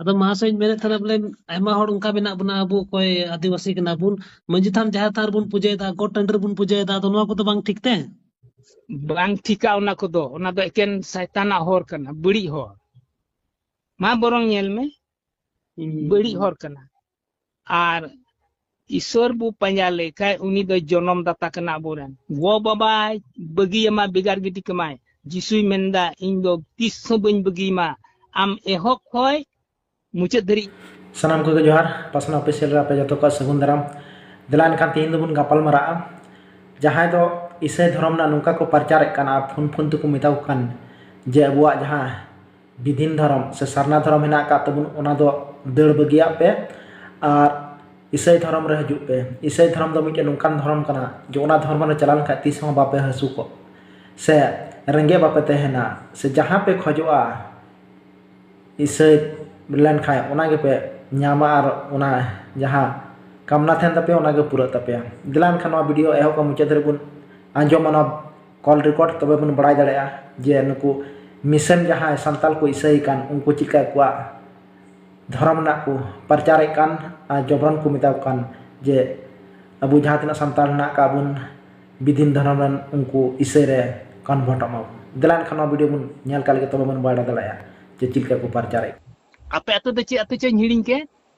ᱟᱫᱚ ᱢᱟᱥᱟᱹᱧ ᱢᱮᱱᱮᱫ ᱛᱟᱦᱮᱱᱟ ᱵᱚᱞᱮ ᱟᱭᱢᱟ ᱦᱚᱲ ᱚᱱᱠᱟ ᱢᱮᱱᱟᱜ ᱵᱚᱱᱟ ᱟᱵᱚ ᱚᱠᱚᱭ ᱟᱹᱫᱤᱵᱟᱹᱥᱤ ᱠᱟᱱᱟ ᱵᱚᱱ ᱢᱟᱹᱡᱷᱤ ᱛᱷᱟᱱ ᱡᱟᱦᱮᱨ ᱛᱷᱟᱱ ᱨᱮᱵᱚᱱ ᱯᱩᱡᱟᱹᱭᱮᱫᱟ ᱜᱚᱴ ᱴᱟᱺᱰᱤ ᱨᱮᱵᱚᱱ ᱯᱩᱡᱟᱹᱭᱮᱫᱟ ᱟᱫᱚ ᱱᱚᱣᱟ ᱠᱚᱫᱚ ᱵᱟᱝ ᱴᱷᱤᱠ ᱛᱮ ᱵᱟᱝ ᱴᱷᱤᱠᱟ ᱚᱱᱟ ᱠᱚᱫᱚ ᱚᱱᱟ ᱫᱚ ᱮᱠᱮᱱ ᱥᱟᱭᱛᱟᱱᱟᱜ ᱦᱚᱨ ᱠᱟᱱᱟ ᱵᱟᱹᱲᱤᱡ ᱦᱚᱨ ᱢᱟ ᱵᱚᱨᱚᱝ ᱧᱮᱞ ᱢᱮ ᱵᱟᱹᱲᱤᱡ ᱦᱚᱨ ᱠᱟᱱᱟ ᱟᱨ ᱤᱥᱚᱨ ᱵᱚ ᱯᱟᱸᱡᱟ ᱞᱮᱠᱷᱟᱡ ᱩᱱᱤ ᱫᱚ ᱡᱚᱱᱚᱢ ᱫᱟᱛᱟ ᱠᱟᱱᱟ ᱟᱵᱚᱨᱮᱱ ᱜᱚ ᱵᱟᱵᱟ ᱵᱟᱹᱜᱤᱭᱟᱢᱟ ᱵᱮᱜᱟᱨ ᱜᱤᱰᱤ ᱠᱟᱢᱟᱭ ᱡᱤᱥᱩᱭ ᱢᱮᱱᱫᱟ ᱤᱧ ᱫᱚ ᱛᱤᱥ ᱦᱚᱸ ᱵᱟᱹᱧ ᱵᱟᱹᱜᱤᱭᱟᱢᱟ ᱟᱢ ᱮᱦᱚᱵ ᱠᱷᱚᱡ ᱢᱩᱪᱟᱹᱫ ᱫᱷᱟᱹᱨᱤᱡ ᱥᱟᱱᱟᱢ ᱠᱚᱜᱮ ᱡᱚᱦᱟᱨ ᱯᱟᱥᱱᱟ ᱚᱯᱷᱤᱥᱤᱭᱟᱞ ᱨᱮ ᱟᱯᱮ ᱡᱚᱛᱚ ᱠᱚ ᱥᱟᱹᱜᱩᱱ ᱫᱟᱨᱟᱢ ᱫᱮᱞᱟ ᱮᱱᱠᱷᱟᱱ ᱛᱮᱦᱮᱧ ᱫᱚᱵᱚᱱ ᱜᱟᱯᱟᱞ ᱢᱟᱨᱟᱜᱼᱟ ᱡᱟᱦᱟᱸᱭ ᱫᱚ ᱤᱥᱟᱹᱭ ᱫᱷᱚᱨᱚᱢ ᱨᱮᱱᱟᱜ ᱱᱚᱝᱠᱟ ᱠᱚ ᱯᱨᱚᱪᱟᱨᱮᱫ ᱠᱟᱱᱟ ᱯᱷᱳᱱ ᱯᱷᱳᱱ ᱛᱮᱠᱚ ᱢᱮᱛᱟ ᱠᱚ ᱠᱟᱱ ᱡᱮ ᱟᱵᱚᱣᱟᱜ ᱡᱟᱦᱟᱸ ᱵᱤᱫᱷᱤᱱ ᱫᱷᱚᱨᱚᱢ ᱥᱮ ᱥᱟᱨᱱᱟ ᱫᱷᱚᱨᱚᱢ ᱢᱮᱱᱟᱜ ᱟᱠᱟᱫ ᱛᱟᱵᱚᱱ ᱚᱱᱟ ᱫᱚ ᱫᱟᱹᱲ ᱵᱟᱹᱜᱤᱭᱟᱜ ᱯᱮ ᱟᱨ ᱤᱥᱟᱹᱭ ᱫᱷᱚᱨᱚᱢ ᱨᱮ ᱦᱤᱡᱩᱜ ᱯᱮ ᱤᱥᱟᱹᱭ ᱫᱷᱚᱨᱚᱢ ᱫᱚ ᱢᱤᱫᱴᱮᱱ ᱱᱚᱝᱠᱟᱱ ᱫᱷᱚᱨᱚᱢ ᱠᱟᱱᱟ ᱡᱮ ᱚᱱᱟ ᱫᱷᱚᱨᱚᱢ ᱨᱮ ᱪᱟᱞᱟᱣ ᱞᱮᱱᱠᱷᱟᱱ ᱛᱤᱥ ᱦᱚᱸ ᱵᱟᱯᱮ ᱦᱟᱹᱥᱩᱠᱚᱜᱼᱟ ᱥᱮ ᱨᱮᱸᱜᱮᱡ ᱵᱟᱯᱮ ᱛᱟᱦᱮᱱᱟ ᱥᱮ ᱡᱟᱦᱟᱸ ᱯᱮ ᱠᱷᱚᱡᱚᱜᱼᱟ ᱤᱥᱟᱹᱭ ᱞᱮᱱᱠᱷᱟᱱ ᱚᱱᱟ ᱜᱮᱯᱮ ᱧᱟᱢᱟ ᱟᱨ ᱚᱱᱟ ᱡᱟᱦᱟᱸ ᱠᱟᱢᱱᱟ ᱛᱟᱦᱮᱱ ᱛᱟᱯᱮᱭᱟ ᱚᱱᱟ ᱜᱮ ᱯᱩᱨᱟᱹᱜ ᱛᱟᱯᱮᱭᱟ ᱫᱮᱞᱟ ᱮᱱᱠᱷᱟᱱ ᱱᱚᱣᱟ ᱵᱷᱤᱰᱤᱭᱳ ᱮᱦᱚᱵ ᱠᱷᱚᱱ ᱢᱩᱪᱟᱹᱫ ᱫᱷᱟᱹᱨᱤᱡ ᱵᱚᱱ ᱟᱸᱡᱚᱢᱟ ᱱᱚᱣᱟ ᱠᱚᱞ ᱨᱮᱠᱳᱨᱰ ᱛᱚᱵᱮ ᱵᱚᱱ ᱵᱟᱲᱟᱭ ᱫᱟᱲᱮᱭᱟᱜᱼᱟ ᱡᱮ ᱱᱩᱠᱩ ᱢᱤᱥᱚᱱ ᱡᱟᱦᱟᱸᱭ ᱥᱟᱱᱛᱟᱲ ᱠᱚ ᱤᱥᱟᱹᱭᱮ ᱠᱟᱱ ᱩᱱᱠᱩ ᱪᱮᱫᱠᱟ ᱟᱠᱚᱣᱟᱜ ᱫᱷᱚᱨᱚᱢ ᱨᱮᱱᱟᱜ ᱠᱚ ᱯᱟᱨᱪᱟᱨᱮᱫ ᱠᱟᱱ ᱟᱨ ᱡᱚᱵᱨᱟᱱ ᱠᱚ ᱢᱮᱛᱟ ᱠᱚ ᱠᱟᱱ ᱡᱮ ᱟᱵᱚ ᱡᱟᱦᱟᱸ ᱛᱤᱱᱟᱹᱜ ᱥᱟᱱᱛᱟᱲ ᱢᱮᱱᱟᱜ ᱠᱟᱜ ᱵᱚᱱ ᱵᱤᱵᱷᱤᱱᱱᱚ ᱫᱷᱚᱨᱚᱢ ᱨᱮᱱ ᱩᱱᱠᱩ ᱤᱥᱟᱹᱭ ᱨᱮ ᱠᱚᱱᱵᱷᱟᱨᱴᱚᱜ ᱢᱟᱵᱚᱱ ᱫᱮᱞᱟ ᱮᱱᱠᱷᱟᱱ ᱱᱚᱣᱟ ᱵᱷᱤᱰᱤᱭᱳ ᱵᱚᱱ ᱧᱮᱞ ᱠᱟᱜ ᱞᱮᱜᱮ ᱛᱚᱵᱮ ᱵᱚᱱ ᱵᱟᱲᱟᱭ ᱫᱟᱲᱮᱭᱟᱜᱼᱟ ᱡᱮ ᱪᱮᱫ ᱞᱮᱠᱟ ᱠᱚ ᱯᱟᱨᱪᱟᱨᱮᱫ ᱠᱟᱱᱟ ᱟᱯᱮ ᱟᱹᱛᱩ ᱫᱚ ᱪᱮᱫ ᱟᱹᱛᱩ ᱪᱚᱧ ᱦᱤᱲᱤᱧ ᱠᱮᱫ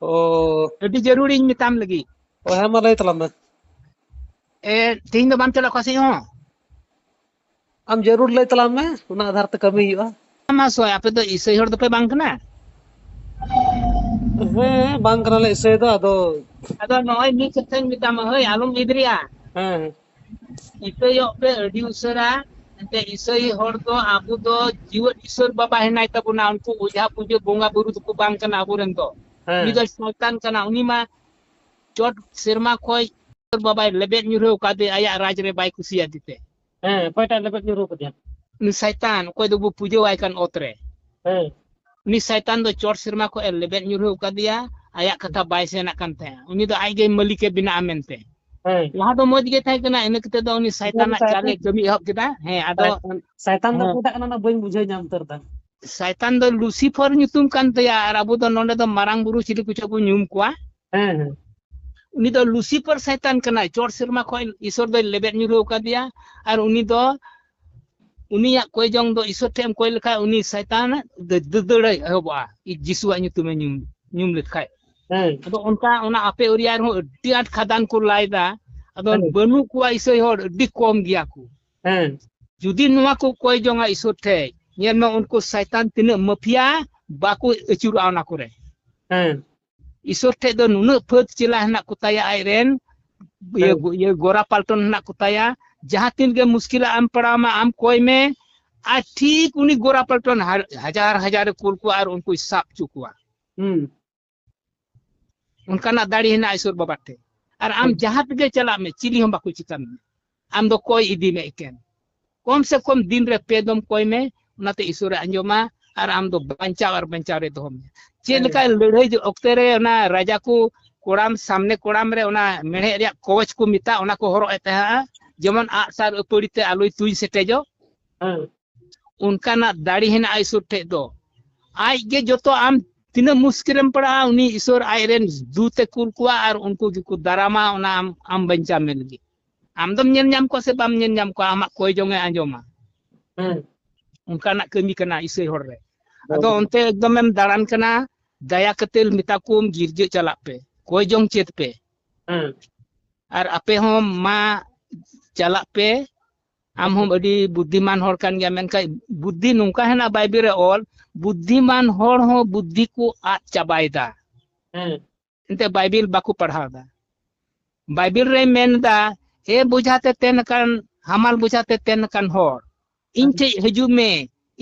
ᱚ ᱟᱹᱰᱤ ᱡᱟᱹᱨᱩᱲ ᱤᱧ ᱢᱮᱛᱟᱢ ᱞᱟᱹᱜᱤᱫ ᱚ ᱦᱮᱸ ᱢᱟ ᱞᱟᱹᱭ ᱛᱟᱞᱟᱝ ᱢᱮ ᱮ ᱛᱮᱦᱮᱧ ᱫᱚ ᱵᱟᱢ ᱪᱟᱞᱟᱜ ᱚᱠᱟ ᱥᱮᱫ ᱦᱚᱸ ᱟᱢ ᱡᱟᱹᱨᱩᱲ ᱞᱟᱹᱭ ᱛᱟᱞᱟᱝ ᱢᱮ ᱚᱱᱟ ᱟᱫᱷᱟᱨ ᱛᱮ ᱠᱟᱹᱢᱤ ᱦᱩᱭᱩᱜᱼᱟ ᱢᱟ ᱥᱚᱭ ᱟᱯᱮ ᱫᱚ ᱤᱥᱟᱹᱭ ᱦᱚᱲ ᱫᱚᱯᱮ ᱵᱟᱝ ᱠᱟᱱᱟ ᱦᱮᱸ ᱵᱟᱝ ᱠᱟᱱᱟᱞᱮ ᱤᱥᱟᱹᱭ ᱫᱚ ᱟᱫᱚ ᱟᱫᱚ ᱱᱚᱜᱼᱚᱭ ᱢᱤᱫ ᱠᱟᱛᱷᱟᱧ ᱢᱮᱛᱟᱢᱟ ᱦᱳᱭ ᱟᱞᱚᱢ ᱮᱫᱽᱨᱮᱜᱼᱟ ᱦᱮᱸ ᱦᱮᱸ ᱤᱠᱟᱹᱭᱚᱜ ᱯᱮ ᱟᱹᱰᱤ ᱩᱥᱟᱹᱨᱟ ᱮᱱᱛᱮ ᱤᱥᱟᱹᱭ ᱦᱚᱲ ᱫᱚ ᱟᱵᱚ ᱫᱚ ᱡᱤᱣᱮᱫ ᱤᱥᱚᱨ ᱵᱟᱵᱟ ᱦᱮᱱᱟᱭ ᱛᱟᱵᱚᱱᱟ ᱩᱱᱠᱩ ᱚᱡᱷᱟ ᱯᱩᱡᱟᱹ ᱵᱚᱸᱜᱟ ᱵᱩᱨᱩ ᱫᱚᱠᱚ ᱵᱟᱝ ᱠᱟᱱᱟ ᱟᱵᱚᱨᱮᱱ ᱫᱚ ᱦᱮᱸ ᱩᱱᱤ ᱫᱚ ᱥᱚᱭᱛᱟᱱ ᱠᱟᱱᱟ ᱩᱱᱤ ᱢᱟ ᱪᱚᱴ ᱥᱮᱨᱢᱟ ᱠᱷᱚᱡ ᱤᱥᱚᱨ ᱵᱟᱵᱟᱭ ᱞᱮᱵᱮᱫ ᱧᱩᱨᱦᱟᱹᱣ ᱠᱟᱫᱮ ᱟᱭᱟᱜ ᱨᱟᱡᱽ ᱨᱮ ᱵᱟᱭ ᱠᱩᱥᱤᱭᱟᱫᱮ ᱛᱮ ᱦᱮᱸ ᱚᱠᱚᱭᱴᱟᱜ ᱞᱮᱵᱮᱫ ᱧᱩᱨᱩ ᱠᱟᱫᱮᱭᱟ ᱩᱱᱤ ᱥᱟᱭᱛᱟᱱ ᱚᱠᱚᱭ ᱫᱚᱵᱚ ᱯᱩᱡᱟᱹᱣᱟᱭ ᱠᱟᱱ ᱚᱛ ᱨᱮ ᱦᱮᱸ ᱩᱱᱤ ᱥᱟᱭᱛᱟᱱ ᱫᱚ ᱪᱚᱴ ᱥᱮᱨᱢᱟ ᱠᱷᱚᱱ ᱮ ᱞᱮᱵᱮᱫ ᱧᱩᱨᱦᱟᱹᱣ ᱠᱟᱫᱮᱭᱟ ᱟᱭᱟᱜ ᱠᱟᱛᱷᱟ ᱵᱟᱭ ᱥᱮᱱᱟᱜ ᱠᱟᱱ ᱛᱟᱦᱮᱸᱫ ᱩᱱᱤ ᱫᱚ ᱟᱡ ᱜᱮ ᱢᱟᱹᱞᱤᱠ ᱮ ᱵᱮᱱᱟᱜᱼᱟ ᱢᱮᱱᱛᱮ ᱦᱮᱸ ᱞᱟᱦᱟ ᱫᱚ ᱢᱚᱡᱽ ᱜᱮ ᱛᱟᱦᱮᱸ ᱠᱟᱱᱟ ᱤᱱᱟᱹ ᱠᱟᱛᱮ ᱫᱚ ᱩᱱᱤ ᱥᱟᱭᱛᱟᱱᱟᱜ ᱥᱟᱭᱛᱟᱱ- ᱪᱟᱞᱮ ᱠᱟᱹᱢᱤ ᱮᱦᱚᱵ ᱠᱮᱫᱟ ᱦᱮᱸ ᱟᱫᱚ ᱥᱟᱭᱛᱟᱱ- ᱥᱟᱭᱛᱟᱱ ᱫᱚ ᱦᱮᱸ᱾ ᱚᱠᱚᱭᱴᱟᱜ ᱠᱟᱱᱟ ᱚᱱᱟ ᱵᱟᱹᱧ ᱵᱩᱡᱷᱟᱹᱣ ᱧᱟᱢ ᱩᱛᱟᱹᱨ ᱫᱟ ᱥᱟᱭᱛᱟᱱ ᱫᱚ ᱞᱩᱥᱤᱯᱷᱚᱨ ᱧᱩᱛᱩᱢ ᱠᱟᱱ ᱛᱟᱭᱟ ᱟᱨ ᱟᱵᱚ ᱫᱚ ᱱᱚᱰᱮ ᱫᱚ ᱢᱟᱨᱟᱝ ᱵᱩᱨᱩ ᱪᱤᱞᱤ ᱠᱚᱪᱚ ᱵᱚᱱ ᱧᱩᱢ ᱠᱚᱣᱟ ᱦᱮᱸ ᱦᱮᱸ ᱩᱱᱤ ᱫᱚ ᱞᱩᱥᱤᱯᱷᱚᱨ ᱥᱟᱭᱛᱟᱱ ᱠᱟᱱᱟᱭ ᱪᱚᱴ ᱥᱮᱨᱢᱟ ᱠᱷᱚᱱ ᱤᱥᱚᱨ ᱫᱚᱭ ᱞᱮᱵᱮᱫ ᱧᱩᱨᱦᱟᱹᱣ ᱠᱟᱫᱮᱭᱟ ᱟᱨ ᱩᱱᱤ ᱫᱚ ᱩᱱᱤᱭᱟᱜ ᱠᱚᱭ ᱡᱚᱝ ᱫᱚ ᱤᱥᱚᱨ ᱴᱷᱮᱱ ᱮᱢ ᱠᱚᱭ ᱞᱮᱠᱷᱟᱡ ᱩᱱᱤ ᱥᱟᱭᱛᱟᱱ ᱫᱟᱹᱫᱟᱹᱲ ᱮᱦᱚᱵᱚᱜᱼᱟ ᱡᱤᱥᱩᱣᱟᱜ ᱧᱩᱛᱩᱢ ᱮ ᱧᱩᱢ ᱧᱩᱢ ᱞᱮᱠᱷᱟᱡ ᱟᱫᱚ ᱚᱱᱠᱟ ᱚᱱᱟ ᱟᱯᱮ ᱮᱨᱤᱭᱟ ᱨᱮᱦᱚᱸ ᱟᱹᱰᱤ ᱟᱸᱴ ᱠᱷᱟᱫᱟᱱ ᱠᱚ ᱞᱟᱭᱫᱟ ᱟᱫᱚ ᱵᱟᱹᱱᱩᱜ ᱠᱚᱣᱟ ᱤᱥᱟᱹᱭ ᱦᱚᱲ ᱟᱹᱰᱤ ᱠᱚᱢ ᱜᱮᱭᱟ ᱠᱚ ᱡᱩᱫᱤ ᱱᱚᱣᱟ ᱠᱚ ᱠᱚᱭ ᱡᱚᱝᱟ ᱤᱥᱚᱨ ᱴᱷᱮᱡ ᱧᱮᱞ ᱢᱮ ᱩᱱᱠᱩ ᱥᱟᱭᱛᱟᱱ ᱛᱤᱱᱟᱹᱜ ᱢᱟᱹᱯᱷᱤᱭᱟ ᱵᱟᱠᱚ ᱟᱹᱪᱩᱨᱚᱜᱼᱟ ᱚᱱᱟ ᱠᱚᱨᱮ ᱤᱥᱚᱨ ᱴᱷᱮᱡ ᱫᱚ ᱱᱩᱱᱟᱹᱜ ᱯᱷᱟᱹᱫ ᱪᱮᱞᱟ ᱦᱮᱱᱟᱜ ᱠᱚ ᱛᱟᱭᱟ ᱟᱡ ᱨᱮᱱ ᱤᱭᱟᱹ ᱤᱭᱟᱹ ᱜᱚᱨᱟ ᱯᱟᱞᱴᱚᱱ ᱦᱮᱱᱟᱜ ᱠᱚ ᱛᱟᱭᱟ ᱡᱟᱦᱟᱸ ᱛᱤᱱ ᱜᱮ ᱢᱩᱥᱠᱤᱞᱟ ᱟᱢ ᱯᱟᱲᱟᱣ ᱢᱟ ᱟᱢ ᱠᱚᱭ ᱢᱮ ᱟᱨ ᱴᱷᱤᱠ ᱩᱱᱤ ᱜᱚᱨᱟ ᱯᱟᱞᱴᱚᱱ ᱦᱟᱡᱟᱨ ᱦᱟᱡᱟᱨ ᱠᱩᱞ ᱠᱚᱣᱟ ᱟᱨ ᱩᱱᱠᱩᱭ ᱥᱟᱵ ᱪᱚ ᱠᱚᱣᱟ ᱚᱱᱠᱟᱱᱟᱜ ᱫᱟᱲᱮ ᱦᱮᱱᱟᱜ ᱤᱥᱚᱨ ᱵᱟᱵᱟ ᱴᱷᱮᱡ ᱟᱨ ᱟᱢ ᱡᱟᱦᱟᱸ ᱛᱮᱜᱮ ᱪᱟᱞᱟᱜ ᱢᱮ ᱪᱤᱞᱤ ᱦᱚᱸ ᱵᱟᱠᱚ ᱪᱤᱠᱟ ᱢᱮᱭᱟ ᱟᱢ ᱫᱚ ᱠᱚᱭ ᱤᱫᱤ ᱢᱮ ᱮᱠᱮᱱ ᱠᱚᱢ ᱥᱮ ᱠᱚᱢ ᱫᱤᱱ ᱨᱮ ᱯᱮ ᱫᱚᱢ ᱠᱚᱭ ᱢᱮ ᱚᱱᱟᱛᱮ ᱤᱥᱚᱨᱮ ᱟᱸᱡᱚᱢᱟ ᱟᱨ ᱟᱢ ᱫᱚ ᱵᱟᱧᱪᱟᱣ ᱟᱨ ᱵᱟᱧᱪᱟᱣ ᱨᱮ ᱫᱚᱦᱚ ᱢᱮ ᱪᱮᱫ ᱞᱮᱠᱟ ᱞᱟᱹᱲᱦᱟᱹᱭ ᱚᱠᱛᱮ ᱨᱮ ᱚᱱᱟ ᱨᱟᱡᱟ ᱠᱚ ᱠᱚᱲᱟᱢ ᱥᱟᱢᱱᱮ ᱠᱚᱲᱟᱢ ᱨᱮ ᱚᱱᱟ ᱢᱮᱬᱦᱮᱫ ᱨᱮᱭᱟᱜ ᱠᱚᱣᱪ ᱠᱚ ᱢᱮᱛᱟ ᱚᱱᱟ ᱠᱚ ᱦᱚᱨᱚᱜ ᱮ ᱛᱟᱦᱮᱸᱜᱼᱟ ᱡᱮᱢᱚᱱ ᱟᱜ ᱥᱟᱨ ᱟᱹᱯᱟᱹᱲᱤ ᱛᱮ ᱟᱞᱚᱭ ᱛᱩᱧ ᱥᱮᱴᱮᱡᱚᱜ ᱚᱱᱠᱟᱱᱟᱜ ᱫᱟᱲᱮ ᱦᱮᱱᱟᱜᱼᱟ ᱤᱥᱚᱨ ᱴᱷᱮᱡ ᱫᱚ ᱟᱡ ᱜᱮ ᱡᱚᱛᱚ ᱟᱢ ᱛᱤᱱᱟᱹᱜ ᱢᱩᱥᱠᱤᱞᱮᱢ ᱯᱟᱲᱟᱜᱼᱟ ᱩᱱᱤ ᱤᱥᱚᱨ ᱟᱡ ᱨᱮᱱ ᱫᱩᱛᱮ ᱠᱩᱞ ᱠᱚᱣᱟ ᱟᱨ ᱩᱱᱠᱩ ᱜᱮᱠᱚ ᱫᱟᱨᱟᱢᱟ ᱚᱱᱟ ᱟᱢ ᱟᱢ ᱵᱟᱧᱪᱟᱣ ᱢᱮ ᱞᱟᱹᱜᱤᱫ ᱟᱢ ᱫᱚᱢ ᱧᱮᱞ ᱧᱟᱢ ᱠᱚᱣᱟ ᱥᱮ ᱵᱟᱢ ᱧᱮᱞ ᱧᱟᱢ ᱠᱚᱣᱟ ᱟᱢᱟᱜ ᱠᱚᱭ ᱡᱚᱝ ᱮ ᱟᱸᱡᱚᱢᱟ ᱦᱮᱸ ᱚᱱᱠᱟᱱᱟᱜ ᱠᱟᱹᱢᱤ ᱠᱟᱱᱟ ᱤᱥᱟᱹᱭ ᱦᱚᱲ ᱨᱮ ᱟᱫᱚ ᱚᱱᱛᱮ ᱮᱠᱫᱚᱢᱮᱢ ᱫᱟᱬᱟᱱ ᱠᱟᱱᱟ ᱫᱟᱭᱟ ᱠᱟᱛᱮ ᱢᱮᱛᱟ ᱠᱚᱢ ᱜᱤᱨᱡᱟᱹ ᱪᱟᱞᱟᱜ ᱯᱮ ᱠᱚᱭ ᱡᱚᱝ ᱪᱮᱫ ᱯᱮ ᱦᱮᱸ ᱟᱨ ᱟᱯᱮ ᱦᱚᱸ ᱢᱟ ᱪᱟᱞᱟᱜ ᱯᱮ ᱟᱢ ᱦᱚᱸ ᱟᱹᱰᱤ ᱵᱩᱫᱽᱫᱷᱤᱢᱟᱱ ᱦᱚᱲ ᱠᱟᱱ ᱜᱮᱭᱟ ᱢᱮᱱᱠᱷᱟᱱ ᱵᱩᱫᱽᱫᱷᱤ ᱱᱚᱝᱠᱟ ᱦᱮᱱᱟᱜ ᱵᱟᱭᱵᱮᱞ ᱨᱮ ᱚᱞ ᱵᱩᱫᱽᱫᱷᱤᱢᱟᱱ ᱦᱚᱲ ᱦᱚᱸ ᱵᱩᱫᱽᱫᱷᱤ ᱠᱚ ᱟᱫ ᱪᱟᱵᱟᱭᱮᱫᱟ ᱦᱮᱸ ᱮᱱᱛᱮ ᱵᱟᱭᱵᱤᱞ ᱵᱟᱠᱚ ᱯᱟᱲᱦᱟᱣ ᱮᱫᱟ ᱵᱟᱭᱵᱤᱞ ᱨᱮ ᱢᱮᱱ ᱮᱫᱟ ᱮ ᱵᱩᱡᱷᱟᱛᱮ ᱛᱮᱱ ᱟᱠᱟᱱ ᱦᱟᱢᱟᱞ ᱵᱩᱡᱷᱟᱛᱮ ᱛᱮᱱ ᱟᱠᱟᱱ ᱦᱚᱲ ᱤᱧ ᱴᱷᱮᱡ ᱦᱤᱡᱩᱜ ᱢᱮ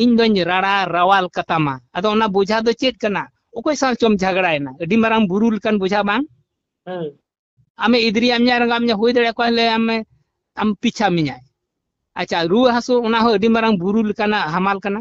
ᱤᱧ ᱫᱚᱧ ᱨᱟᱲᱟ ᱨᱟᱣᱟᱞ ᱠᱟᱛᱟᱢᱟ ᱟᱫᱚ ᱚᱱᱟ ᱵᱩᱡᱷᱟ ᱫᱚ ᱪᱮᱫ ᱠᱟᱱᱟ ᱚᱠᱚᱭ ᱥᱟᱶ ᱪᱚᱢ ᱡᱷᱟᱜᱽᱲᱟᱭᱮᱱᱟ ᱟᱹᱰᱤ ᱢᱟᱨᱟᱝ ᱵᱩᱨᱩ ᱞᱮᱠᱟᱱ ᱵᱩᱡᱷᱟ ᱵᱟᱝ ᱟᱢᱮ ᱤᱫᱨᱤ ᱟᱢᱧᱟ ᱨᱟᱸᱜᱟ ᱟᱢᱧᱟ ᱦᱩᱭ ᱫᱟᱲᱮ ᱠᱚᱣᱟ ᱞᱮ ᱟᱢᱮ ᱟᱢ ᱯᱤᱪᱷᱟ ᱢᱮᱧᱟᱭ ᱟᱪᱪᱷᱟ ᱨᱩᱣᱟᱹ ᱦᱟᱹᱥᱩ ᱚᱱᱟ ᱦᱚᱸ ᱟᱹᱰᱤ ᱢᱟᱨᱟᱝ ᱵᱩᱨᱩ ᱞᱮᱠᱟᱱᱟᱜ ᱦᱟᱢᱟᱞ ᱠᱟᱱᱟ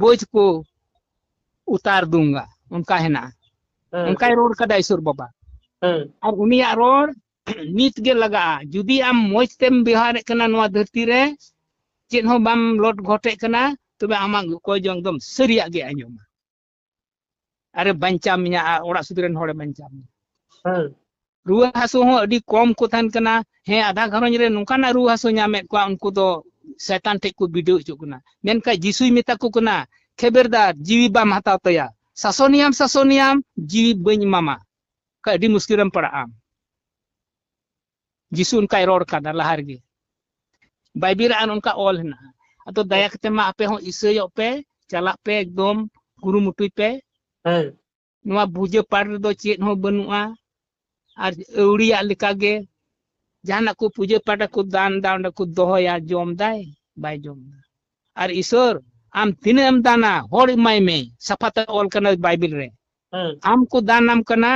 ᱵᱳᱡ ᱠᱚ ᱩᱛᱟᱨ ᱫᱩᱝᱜᱟ ᱚᱱᱠᱟ ᱦᱮᱱᱟᱜᱼᱟ ᱚᱱᱠᱟᱭ ᱨᱚᱲ ᱠᱟᱫᱟ ᱤᱥᱚᱨ ᱵᱟᱵᱟ ᱟᱨ ᱩᱱᱤᱭᱟᱜ ᱨᱚᱲ ᱱᱤᱛ ᱜᱮ ᱞᱟᱜᱟᱜᱼᱟ ᱡᱩᱫᱤ ᱟᱢ ᱢᱚᱡᱽ ᱛᱮᱢ ᱵᱮᱣᱦᱟᱨᱮᱫ ᱠᱟᱱᱟ ᱱᱚᱣᱟ ᱫᱷᱟᱹᱨᱛᱤ ᱨᱮ ᱪᱮᱫ ᱦᱚᱸ ᱵᱟᱢ ᱞᱚᱴ ᱜᱷᱚᱴᱮᱫ ᱠᱟᱱᱟ ᱛᱚᱵᱮ ᱟᱢᱟᱜ ᱚᱠᱚᱭ ᱡᱚᱝ ᱫᱚᱢ ᱥᱟᱹᱨᱤᱭᱟᱜ ᱜᱮ ᱟᱸᱡᱚᱢᱟ ᱟᱨᱮ ᱵᱟᱧᱪᱟᱣ ᱢᱮᱭᱟ ᱟᱨ ᱚᱲᱟᱜ ᱥᱩᱫᱷ ᱨᱮᱱ ᱦᱚᱲᱮ ᱵᱟᱧᱪᱟᱣ ᱢᱮᱭᱟ ᱦᱮᱸ ᱨᱩᱣᱟᱹ ᱦᱟᱹᱥᱩ ᱦᱚᱸ ᱟᱹᱰᱤ ᱠᱚᱢ ᱠᱚ ᱛᱟᱦᱮᱱ ᱠᱟᱱᱟ ᱦᱮᱸ ᱟᱫᱷᱟ ᱜᱷᱟᱨᱚᱸᱡᱽ ᱨᱮ ᱱᱚᱝᱠᱟᱱᱟᱜ ᱨᱩᱣᱟᱹ ᱦᱟᱹᱥᱩ ᱧᱟᱢᱮᱫ ᱠᱚᱣᱟ ᱩᱱᱠᱩ ᱫᱚ ᱥᱮᱛᱟᱱ ᱴᱷᱮᱡ ᱠᱚ ᱵᱤᱰᱟᱹᱣ ᱦᱚᱪᱚᱜ ᱠᱟᱱᱟ ᱢᱮᱱᱠᱷᱟᱱ ᱡᱤᱥᱩᱭ ᱢᱮᱛᱟ ᱠᱚ ᱠᱟᱱᱟ ᱠᱷᱮᱵᱮᱨᱫᱟᱨ ᱡᱤᱣᱤ ᱵᱟᱢ ᱦᱟᱛᱟᱣ ᱛᱟᱭᱟ ᱥᱟᱥᱚᱱᱤᱭᱟᱢ ᱥᱟᱥᱚᱱᱤᱭᱟᱢ ᱡᱤᱣᱤ ᱵᱟᱹᱧ ᱮᱢᱟᱢᱟ ᱠᱷᱟᱡ ᱟᱹᱰᱤ ᱢᱩᱥᱠᱤᱞ ᱨᱮᱢ ᱯᱟᱲᱟᱜᱼᱟ ᱡᱤᱥᱩ ᱚᱱᱠᱟᱭ ᱨᱚᱲ ᱠᱟᱫᱟ ᱞᱟᱦᱟ ᱨᱮᱜᱮ ᱵᱟᱭᱵᱤᱞ ᱨᱮ ᱚᱱᱠᱟ ᱚᱞ ᱦᱮᱱᱟᱜᱼᱟ ᱟᱫᱚ ᱫᱟᱭᱟ ᱠᱟᱛᱮ ᱢᱟ ᱟᱯᱮ ᱦᱚᱸ ᱤᱥᱟᱹᱭᱚᱜ ᱯᱮ ᱪᱟᱞᱟᱜ ᱯᱮ ᱮᱠᱫᱚᱢ ᱠᱩᱨᱩᱢᱩᱴᱩᱭ ᱯᱮ ᱦᱮᱸ ᱱᱚᱣᱟ ᱵᱩᱡᱟᱹ ᱯᱟᱴ ᱨᱮᱫᱚ ᱪᱮᱫ ᱦᱚᱸ ᱵᱟᱹᱱᱩᱜᱼᱟ ᱟᱨ ᱟᱹᱣᱲᱤᱭᱟᱜ ᱞᱮᱠᱟᱜᱮ ᱡᱟᱦᱟᱱᱟᱜ ᱠᱚ ᱯᱩᱡᱟᱹ ᱯᱟᱴ ᱠᱚ ᱫᱟᱱ ᱫᱟ ᱚᱸᱰᱮ ᱠᱚ ᱫᱚᱦᱚᱭᱟ ᱡᱚᱢ ᱫᱟᱭ ᱵᱟᱭ ᱡᱚᱢ ᱫᱟ ᱟᱨ ᱤᱥᱚᱨ ᱟᱢ ᱛᱤᱱᱟᱹᱜ ᱮᱢ ᱫᱟᱱᱟ ᱦᱚᱲ ᱮᱢᱟᱭ ᱢᱮ ᱥᱟᱯᱷᱟᱛᱮ ᱚᱞ ᱠᱟᱱᱟ ᱵᱟᱭᱵᱤᱞ ᱨᱮ ᱦᱩᱸ ᱟᱢ ᱠᱚ ᱫᱟᱱᱟᱢ ᱠᱟᱱᱟ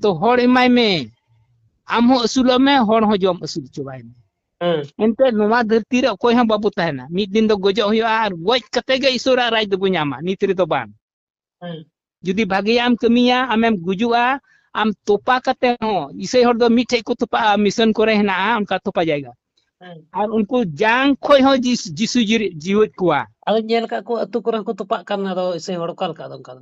ᱛᱚ ᱦᱚᱲ ᱮᱢᱟᱭ ᱢᱮ ᱟᱢ ᱦᱚᱸ ᱟᱹᱥᱩᱞᱚᱜ ᱢᱮ ᱦᱚᱲ ᱦᱚᱸ ᱡᱚᱢ ᱟᱹᱥᱩᱞ ᱦᱚᱪᱚ ᱵᱟᱭ ᱢᱮ ᱦᱩᱸ ᱮᱱᱛᱮ ᱱᱚᱣᱟ ᱫᱷᱟᱹᱨᱛᱤ ᱨᱮ ᱚᱠᱚᱭ ᱦᱚᱸ ᱵᱟᱵᱚ ᱛᱟᱦᱮᱱᱟ ᱢᱤᱫ ᱫᱤᱱ ᱫᱚ ᱜᱚᱡᱚᱜ ᱦᱩᱭᱩᱜᱼᱟ ᱟᱨ ᱜᱚᱡ ᱠᱟᱛᱮ ᱜᱮ ᱤᱥᱚᱨᱟᱜ ᱨᱟᱡᱽ ᱫᱚᱵᱚ ᱧᱟᱢᱟ ᱱᱤᱛ ᱨᱮᱫᱚ ᱵᱟᱝ ᱦᱩᱸ ᱡᱩᱫᱤ ᱵᱷᱟᱜᱮᱭᱟᱜ ᱮᱢ ᱠᱟᱹᱢᱤᱭᱟ ᱟᱢᱮᱢ ᱜᱩᱡᱩᱜᱼᱟ ᱟᱢ ᱛᱚᱯᱟ ᱠᱟᱛᱮ ᱦᱚᱸ ᱤᱥᱟᱹᱭ ᱦᱚᱲ ᱫᱚ ᱢᱤᱫᱴᱷᱮᱡ ᱠᱚ ᱛᱚᱯᱟᱜᱼᱟ ᱢᱤᱥᱚᱱ ᱠᱚᱨᱮ ᱦᱮᱱᱟᱜᱼᱟ ᱚᱱᱠᱟ ᱛᱚᱯᱟ ᱡᱟᱭᱜᱟ ᱦᱩᱸ ᱟᱨ ᱩᱱᱠᱩ ᱡᱟᱝ ᱠᱷᱚᱡ ᱦᱚᱸ ᱡᱤᱥ- ᱡᱤᱥᱩ ᱡᱤᱨᱤ- ᱡᱤᱣᱮᱫ ᱠᱚᱣᱟ ᱟᱫᱚᱧ ᱧᱮᱞ ᱠᱟᱜ ᱠᱚ ᱟᱹᱛᱩ ᱠᱚᱨᱮ ᱦᱚᱸᱠᱚ ᱛᱚᱯᱟᱜ ᱠᱟᱱ ᱟᱫᱚ ᱤᱥᱟᱹᱭ ᱦᱚᱲ ᱚᱠᱟ ᱞᱮᱠᱟ ᱟᱫᱚ ᱚᱱᱠᱟ ᱫᱚ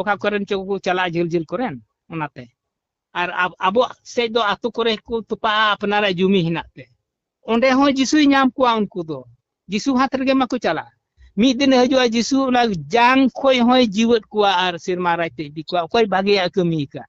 ᱚᱠᱟ ᱠᱚᱨᱮᱱ ᱪᱚ ᱠᱚ ᱪᱟᱞᱟᱜᱼᱟ ᱡᱷᱟᱹᱞ ᱡᱷᱟᱹᱞ ᱠᱚᱨᱮᱱ ᱚᱱᱟᱛᱮ ᱟᱨ ᱟᱵᱚᱣᱟᱜ ᱥᱮᱫ ᱫᱚ ᱟᱛᱳ ᱠᱚᱨᱮ ᱠᱚ ᱛᱚᱯᱟᱜᱼᱟ ᱟᱯᱱᱟᱨᱟᱜ ᱡᱩᱢᱤ ᱦᱮᱱᱟᱜ ᱛᱮ ᱚᱸᱰᱮ ᱦᱚᱸ ᱡᱤᱥᱩᱭ ᱧᱟᱢ ᱠᱚᱣᱟ ᱩᱱᱠᱩ ᱫᱚ ᱡᱤᱥᱩ ᱦᱟᱛ ᱨᱮᱜᱮ ᱢᱟᱠᱚ ᱪᱟᱞᱟᱜᱼᱟ ᱢᱤᱫ ᱫᱤᱱ ᱦᱤᱡᱩᱜᱼᱟ ᱡᱤᱥᱩ ᱚᱱᱟ ᱡᱟᱝ ᱠᱷᱚᱡ ᱦᱚᱸᱭ ᱡᱤᱣᱮᱫ ᱠᱚᱣᱟ ᱟᱨ ᱥᱮᱨᱢᱟ ᱨᱟᱡᱽ ᱛᱮ ᱤᱫᱤ ᱠᱚᱣᱟ ᱚᱠᱚᱭ ᱵᱷᱟᱜᱮᱭᱟᱜ ᱠᱟᱹᱢᱤ ᱟᱠᱟᱫ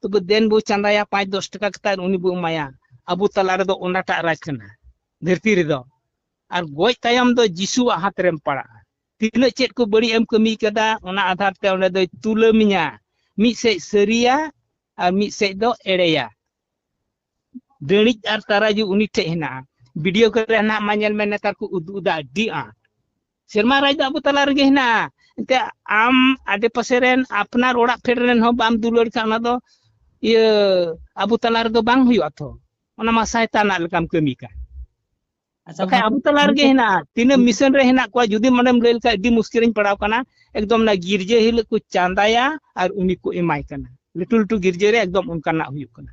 ᱛᱚᱵᱮ ᱫᱮᱱ ᱵᱚ ᱪᱟᱸᱫᱟᱭᱟ ᱯᱟᱸᱪ ᱫᱚᱥ ᱴᱟᱠᱟ ᱠᱟᱛᱮ ᱟᱨ ᱩᱱᱤ ᱵᱚ ᱮᱢᱟᱭᱟ ᱟᱵᱚ ᱛᱟᱞᱟ ᱨᱮᱫᱚ ᱚᱱᱟᱴᱟᱜ ᱨᱟᱡᱽ ᱠᱟᱱᱟ ᱫᱷᱟᱹᱨᱛᱤ ᱨᱮᱫᱚ ᱟᱨ ᱜᱚᱡ ᱛᱟᱭᱚᱢ ᱫᱚ ᱡᱤᱥᱩᱣᱟᱜ ᱦᱟᱛ ᱨᱮᱢ ᱯᱟᱲᱟᱜᱼᱟ ᱛᱤᱱᱟᱹᱜ ᱪᱮᱫ ᱠᱚ ᱵᱟᱹᱲᱤᱡ ᱮᱢ ᱠᱟᱹᱢᱤ ᱠᱟᱫᱟ ᱚᱱᱟ ᱟᱫᱷᱟᱨ ᱛᱮ ᱚᱸᱰᱮ ᱫᱚᱭ ᱛᱩᱞᱟᱹᱢᱤᱧᱟ ᱢᱤᱫ ᱥᱮᱡ ᱥᱟᱹᱨᱤᱭᱟ ᱟᱨ ᱢᱤᱫ ᱥᱮᱡ ᱫᱚ ᱮᱲᱮᱭᱟ ᱰᱟᱹᱬᱤᱡ ᱟᱨ ᱛᱟᱨᱟᱡᱩ ᱩᱱᱤ ᱴᱷᱮᱡ ᱦᱮᱱᱟᱜᱼᱟ ᱵᱷᱤᱰᱤᱭᱳ ᱠᱚᱨᱮ ᱦᱮᱱᱟᱜ ᱢᱟ ᱧᱮᱞ ᱢᱮ ᱱᱮᱛᱟᱨ ᱠᱚ ᱩᱫᱩᱜ ᱮᱫᱟ ᱟᱹᱰᱤ ᱟᱸᱴ ᱥᱮᱨᱢᱟ ᱨᱟᱡᱽ ᱫᱚ ᱟᱵᱚ ᱛᱟᱞᱟ ᱨᱮᱜᱮ ᱦᱮᱱᱟᱜᱼᱟ ᱮᱱᱛᱮ ᱟᱢ ᱟᱰᱮ ᱯᱟᱥᱮ ᱨᱮᱱ ᱟᱯᱱᱟᱨ ᱚᱲᱟᱜ ᱯᱷᱮᱰ ᱨᱮᱱ ᱦᱚᱸ ᱵᱟᱢ ᱫᱩᱞᱟᱹᱲ ᱠᱷᱟᱱ ᱚᱱᱟ ᱫᱚ ᱤᱭᱟᱹ ᱟᱵᱚ ᱛᱟᱞᱟ ᱨᱮᱫᱚ ᱵᱟᱝ ᱦᱩᱭᱩᱜᱼᱟ ᱛᱚ ᱚᱱᱟ ᱢᱟ ᱥᱟᱭᱛᱟᱱᱟᱜ ᱞᱮᱠᱟᱢ ᱠᱟᱹᱢᱤ ᱠᱟᱱ ᱟᱪᱪᱷᱟ ᱵᱟᱠᱷᱟᱡ ᱟᱵᱚ ᱛᱟᱞᱟ ᱨᱮᱜᱮ ᱦᱮᱱᱟᱜᱼᱟ ᱛᱤᱱᱟᱹᱜ ᱢᱤᱥᱚᱱ ᱨᱮ ᱦᱮᱱᱟᱜ ᱠᱚᱣᱟ ᱡᱩᱫᱤ ᱢᱚᱱᱮᱢ ᱞᱟᱹᱭ ᱞᱮᱠᱷᱟᱡ ᱟᱹᱰᱤ ᱢᱩᱥᱠᱤᱞ ᱨᱤᱧ ᱯᱟᱲᱟᱣ ᱠᱟᱱᱟ ᱮᱠᱫᱚᱢ ᱚᱱᱟ ᱜᱤᱨᱡᱟᱹ ᱦᱤᱞᱳᱜ ᱠᱚ ᱪᱟᱸᱫᱟᱭᱟ ᱟᱨ ᱩᱱᱤ ᱠᱚ ᱮᱢᱟᱭ ᱠᱟᱱᱟ ᱞᱟᱹᱴᱩ ᱞᱟᱹᱴᱩ ᱜᱤᱨᱡᱟᱹ ᱨᱮ ᱮᱠᱫᱚᱢ ᱚᱱᱠᱟᱱᱟᱜ ᱦᱩᱭᱩᱜ ᱠᱟᱱᱟ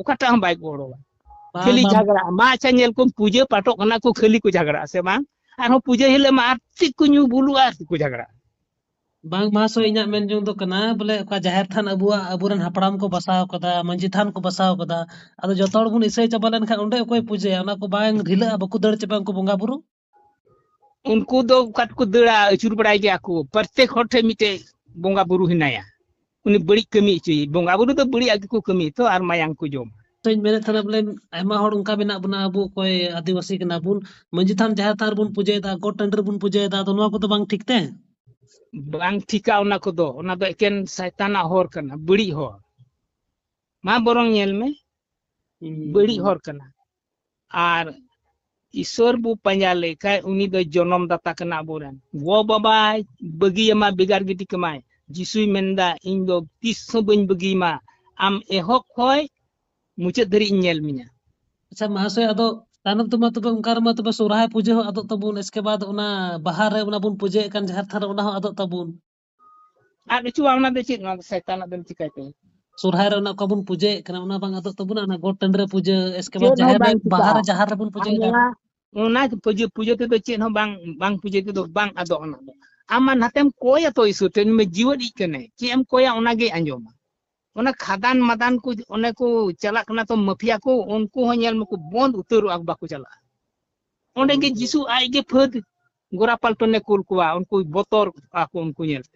ᱚᱠᱟᱴᱟᱜ ᱦᱚᱸ ᱵᱟᱭ ᱜᱚᱲᱚᱣᱟ ᱠᱷᱟᱹᱞᱤ ᱡᱷᱟᱜᱽᱲᱟ ᱢᱟ ᱟᱪᱪᱷᱟ ᱧᱮᱞ ᱠᱚᱢ ᱯᱩᱡᱟᱹ ᱯᱟᱴᱚᱜ ᱠᱟᱱᱟ ᱠᱚ ᱠᱷᱟᱹᱞᱤ ᱠᱚ ᱡᱷᱟᱜᱽᱲᱟᱜᱼᱟ ᱥᱮ ᱵᱟᱝ ᱟᱨᱦᱚᱸ ᱯᱩᱡᱟᱹ ᱦᱤᱞᱳᱜ ᱢᱟ ᱟᱨ ᱪᱮᱫ ᱠᱚ ᱧᱩ ᱵᱩᱞᱩᱜᱼᱟ ᱟᱨ ᱪᱮᱫ ᱠᱚ ᱡᱷᱟᱜᱽᱲᱟᱜᱼᱟ ᱵᱟᱝ ᱢᱟ ᱥᱚ ᱤᱧᱟᱹᱜ ᱢᱮᱱ ᱡᱚᱝ ᱫᱚ ᱠᱟᱱᱟ ᱵᱚᱞᱮ ᱚᱠᱟ ᱡᱟᱦᱮᱨ ᱛᱷᱟᱱ ᱟᱵᱚᱣᱟᱜ ᱟᱵᱚᱨᱮᱱ ᱦᱟᱯᱲᱟᱢ ᱠᱚ ᱵᱟᱥᱟᱣ ᱠᱟᱫᱟ ᱢᱟᱺᱡᱷᱤ ᱛᱷᱟᱱ ᱠᱚ ᱵᱟᱥᱟᱣ ᱠᱟᱫᱟ ᱟᱫᱚ ᱡᱚᱛᱚ ᱦᱚᱲ ᱵᱚᱱ ᱤᱥᱟᱹᱭ ᱪᱟᱵᱟ ᱞᱮᱱᱠᱷᱟᱱ ᱚᱸᱰᱮ ᱚᱠᱚᱭ ᱯᱩᱡᱟᱹᱭᱟ ᱚᱱᱟ ᱠᱚ ᱵᱟᱝ ᱰᱷᱤᱞᱟᱹᱜᱼᱟ ᱵᱟᱠᱚ ᱫᱟᱹᱲ ᱪᱟᱵᱟᱜᱼᱟ ᱩᱱᱠᱩ ᱵᱚᱸᱜᱟ ᱵᱩᱨᱩ ᱩᱱᱠᱩ ᱫᱚ ᱚᱠᱟ ᱛᱮᱠᱚ ᱫᱟᱹᱲᱟ ᱟᱹᱪᱩᱨ ᱵᱟᱲᱟᱭ ᱜᱮᱭᱟ ᱠᱚ ᱯᱨᱚᱛᱮᱠ ᱦᱚᱲ ᱴᱷᱮᱱ ᱢᱤᱫᱴᱮᱡ ᱵᱚᱸᱜᱟ ᱵᱩᱨᱩ ᱦᱮᱱᱟᱭᱟ ᱩᱱᱤ ᱵᱟᱹᱲᱤᱡ ᱠᱟᱹᱢᱤ ᱦᱚᱪᱚᱭ ᱵᱚᱸᱜᱟ ᱵᱩᱨᱩ ᱫᱚ ᱵᱟᱹᱲᱤᱡ ᱟᱜ ᱜᱮᱠᱚ ᱠᱟᱹᱢᱤ ᱛᱚ ᱟᱨ ᱢᱟᱭᱟᱝ ᱠᱚ ᱡᱚᱢᱟ ᱛᱚᱧ ᱢᱮᱱᱮᱫ ᱛᱟᱦᱮᱱᱟ ᱵᱚᱞᱮ ᱟᱭᱢᱟ ᱦᱚᱲ ᱚᱱᱠᱟ ᱢᱮᱱᱟᱜ ᱵᱚᱱᱟ ᱟᱵᱚ ᱚᱠᱚᱭ ᱟᱹᱫᱤᱵᱟᱹᱥᱤ ᱠᱟᱱᱟ ᱵᱚᱱ ᱢᱟᱺᱡᱷᱤ ᱛᱷᱟᱱ ᱡᱟᱦᱮᱨ ᱛᱷᱟᱱ ᱨᱮᱵᱚᱱ ᱯᱩᱡᱟᱹᱭᱮᱫᱟ ᱜᱚᱴ ᱴᱟᱺᱰᱤ ᱨᱮᱵᱚᱱ ᱯᱩᱡᱟᱹᱭᱮᱫᱟ ᱟᱫᱚ ᱱᱚᱣᱟ ᱠᱚᱫᱚ ᱵᱟᱝ ᱴᱷᱤᱠ ᱛᱮ ᱵᱟᱝ ᱴᱷᱤᱠᱟ ᱚᱱᱟ ᱠᱚᱫᱚ ᱚᱱᱟ ᱫᱚ ᱮᱠᱮᱱ ᱥᱟᱭᱛᱟᱱᱟᱜ ᱦᱚᱨ ᱠᱟᱱᱟ ᱵᱟᱹᱲᱤᱡ ᱦᱚᱨ ᱢᱟ ᱵᱚᱨᱚᱝ ᱧᱮᱞ ᱢᱮ ᱵᱟᱹᱲᱤᱡ ᱦᱚᱨ ᱠᱟᱱᱟ ᱟᱨ ᱤᱥᱚᱨ ᱵᱚ ᱯᱟᱸᱡᱟ ᱞᱮᱠᱷᱟᱡ ᱩᱱᱤ ᱫᱚ ᱡᱚᱱᱚᱢ ᱫᱟᱛᱟ ᱠᱟᱱᱟ ᱟᱵᱚᱨᱮᱱ ᱜᱚ ᱵᱟᱵᱟ ᱵᱟᱹᱜᱤᱭᱟᱢᱟ ᱵᱮᱜᱟᱨ ᱜᱤᱰᱤ ᱠᱟᱢᱟᱭ ᱡᱤᱥᱩᱭ ᱢᱮᱱᱫᱟ ᱤᱧ ᱫᱚ ᱛᱤᱥ ᱦᱚᱸ ᱵᱟᱹᱧ ᱵᱟᱹᱜᱤᱭᱟᱢᱟ ᱟᱢ ᱮᱦᱚᱵ ᱠᱷᱚᱡ ᱢᱩᱪᱟᱹᱫ ᱫᱷᱟᱹᱨᱤᱡ ᱤᱧ ᱧᱮᱞ ᱢᱮᱭᱟ ᱟᱪᱪᱷᱟ ᱢᱟᱦᱟᱥᱚᱭ ᱟᱫᱚ ᱛᱟᱭᱱᱚᱢ ᱛᱮᱢᱟ ᱛᱚᱵᱮ ᱚᱱᱠᱟ ᱨᱮᱢᱟ ᱛᱚᱵᱮ ᱥᱚᱨᱦᱟᱭ ᱯᱩᱡᱟᱹ ᱦᱚᱸ ᱟᱫᱚᱜ ᱛᱟᱵᱚᱱ ᱮᱥᱠᱮ ᱵᱟᱫ ᱚᱱᱟ ᱵᱟᱦᱟ ᱨᱮ ᱚᱱᱟ ᱵᱚᱱ ᱯᱩᱡᱟᱹᱭᱮᱫ ᱠᱟᱱ ᱡᱟᱦᱮᱨ ᱛᱷᱟᱱ ᱨᱮ ᱚᱱᱟ ᱦᱚᱸ ᱟᱫᱚᱜ ᱛᱟᱵᱚᱱ ᱟᱫ ᱦᱚᱪᱚᱣᱟ ᱚᱱᱟ ᱫᱚ ᱪᱮᱫ ᱱᱚᱣᱟ ᱫᱚ ᱥᱟᱭᱛᱟᱱᱟᱜ ᱫᱚᱢ ᱪᱤᱠᱟᱹᱭ ᱛᱟᱭᱟ ᱥᱚᱨᱦᱟᱭ ᱨᱮ ᱚᱱᱟ ᱚᱠᱟ ᱵᱚᱱ ᱯᱩᱡᱟᱹᱭᱮᱫ ᱠᱟᱱᱟ ᱚᱱᱟ ᱵᱟᱝ ᱟᱫᱚᱜ ᱛᱟᱵᱚᱱᱟ ᱚᱱᱟ ᱜᱚᱴ ᱴᱟᱺᱰᱤ ᱨᱮ ᱯᱩᱡᱟᱹ ᱮᱥᱠᱮ ᱵᱟᱫ ᱪᱮᱫ ᱦᱚᱸ ᱡᱟᱦᱮᱨ ᱨᱮ ᱵᱟᱝ ᱵᱟᱦᱟ ᱨᱮ ᱪᱤᱠᱟᱹᱜᱼᱟ ᱡᱟᱦᱮᱨ ᱨᱮᱵᱚᱱ ᱯᱩᱡᱟᱹᱭ ᱠᱟᱱᱟ ᱱᱚᱣᱟ ᱚᱱᱟ ᱯᱩᱡᱟᱹ ᱯᱩᱡᱟᱹ ᱛᱮᱫᱚ ᱪᱮᱫ ᱦᱚᱸ ᱵᱟᱝ ᱵᱟᱝ ᱯᱩᱡᱟᱹ ᱛᱮᱫᱚ ᱵᱟᱝ ᱟᱫᱚᱜ ᱚᱱᱟ ᱫᱚ ᱟᱢ ᱢᱟ ᱱᱟᱛᱮᱢ ᱠᱚᱭᱟ ᱛᱚ ᱤᱥᱩᱨ ᱴᱷᱮᱱ ᱢᱮ ᱡᱤᱣᱮᱫ ᱤᱡ ᱠᱟᱱᱟᱭ ᱪᱮᱫ ᱮᱢ ᱠᱚᱭᱟ ᱚᱱᱟᱜᱮ ᱟᱸᱡᱚᱢᱟ ᱚᱱᱟ ᱠᱷᱟᱫᱟᱱ ᱢᱟᱫᱟᱱ ᱠᱚ ᱚᱱᱮ ᱠᱚ ᱪᱟᱞᱟᱜ ᱠᱟᱱᱟ ᱛᱚ ᱢᱟᱹᱯᱷᱤᱭᱟ ᱠᱚ ᱩᱱᱠᱩ ᱦᱚᱸ ᱧᱮᱞ ᱢᱟᱠᱚ ᱵᱚᱱᱫ ᱩᱛᱟᱹᱨᱚᱜᱼᱟ ᱵᱟᱠᱚ ᱪᱟᱞᱟᱜᱼᱟ ᱚᱸᱰᱮ ᱜᱮ ᱡᱤᱥᱩ ᱟᱡ ᱜᱮ ᱯᱷᱟᱹᱫ ᱜᱳᱨᱟ ᱯᱟᱞᱴᱚᱱᱮ ᱠᱩᱞ ᱠᱚᱣᱟ ᱩᱱᱠᱩ ᱵᱚᱛᱚᱨᱚᱜᱼᱟ ᱠᱚ ᱩᱱᱠᱩ ᱧᱮᱞᱛᱮ